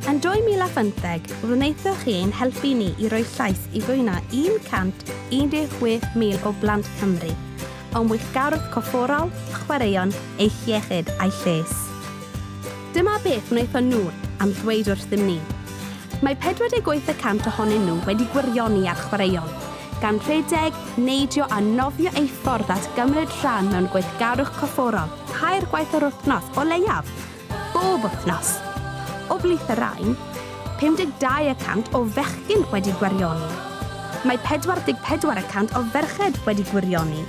Yn 2015, wnaethoch chi ein helpu ni i roi llais i fwy na 116,000 o blant Cymru, o'n weithgarwch corfforol, chwaraeon, eu hiechyd a'u lles. Dyma beth wnaethon nhw am ddweud wrthym ni. Mae 48 y cant ohonyn nhw wedi gwirioni ar chwaraeon, gan rhedeg, neidio a nofio eu ffordd at gymryd rhan mewn gweithgarwch corfforol tair gwaith yr wythnos o leiaf, bob wythnos. O blith y rhain, 52 y cant o fechgyn wedi gwirioni. Mae 44 y cant o ferched wedi gwirioni.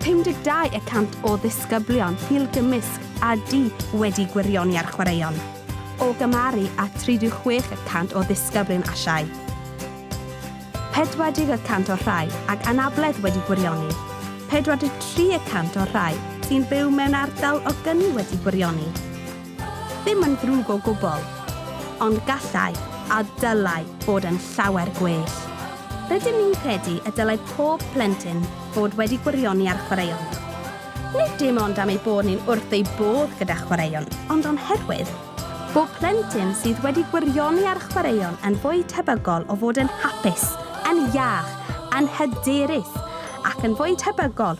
52 y cant o ddisgyblion pil gymysg a du wedi gwirioni ar chwaraeon, o gymharu â 36 y cant o ddisgyblion Asiaidd. 40 y cant o'r rhai ag anabledd wedi gwirioni, 43 y cant o'r rhai sy'n byw mewn ardal o gyni wedi gwirioni, Ddim yn ddrwg o gwbl. Ond gallai, a dylai, fod yn llawer gwell. Rydym ni'n credu y dylai pob plentyn fod wedi gwirioni ar chwaraeon. Nid dim ond am eu bod ni'n wrth eu bodd gyda chwaraeon, ond o'n herwydd. Bob plentyn sydd wedi gwirioni ar chwaraeon yn fwy tebygol o fod yn hapus, yn iach, yn hyderus, ac yn fwy tebygol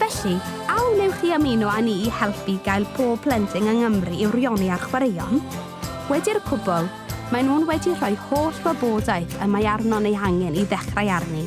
Felly, a wnewch chi ymuno â ni i helpu gael pob plentyn yng Nghymru i'w rioni â'r chwaraeon? Wedi'r cwbl, maen nhw'n wedi rhoi holl wybodaeth y mae arnon ei hangen i ddechrau arni.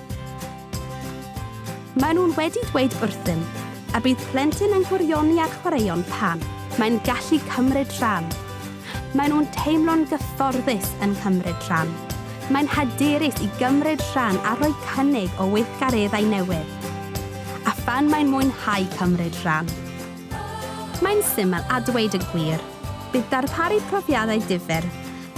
Maen nhw'n wedi dweud wrthym y bydd plentyn yn gwirioni ar chwaraeon pan mae'n gallu cymryd rhan. Maen nhw'n teimlo'n gyfforddus yn cymryd rhan. Mae'n hyderus i gymryd rhan a rhoi cynnig o weithgareddau newydd. A phan mae'n mwynhau cymryd rhan. Mae'n syml a dweud y gwir, bydd darparu profiadau difyr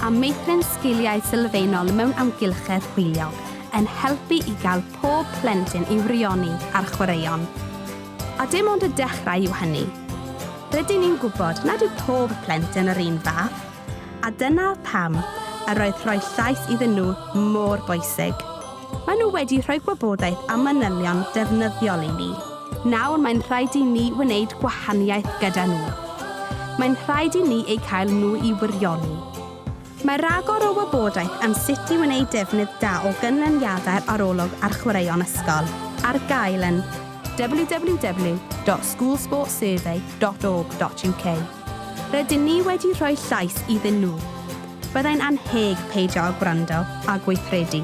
a meithrin sgiliau sylfaenol mewn amgylchedd hwyliog yn helpu i gael pob plentyn i frioni ar chwaraeon. A dim ond y dechrau yw hynny. Rydyn ni'n gwybod nad yw pob plentyn yr un fath, a dyna pam yr oedd rhoi llais iddyn nhw mor bwysig. Maen nhw wedi rhoi gwybodaeth a manylion defnyddiol i ni. Nawr mae'n rhaid i ni wneud gwahaniaeth gyda nhw. Mae'n rhaid i ni eu cael nhw i wirioni. Mae rhagor o wybodaeth am sut i wneud defnydd da o ganlyniadau'r arolwg ar chwaraeon ysgol ar gael yn www.schoolsportsurvey.org.uk. Rydyn ni wedi rhoi llais iddyn nhw. Byddai'n annheg peidio â gwrando a gweithredu.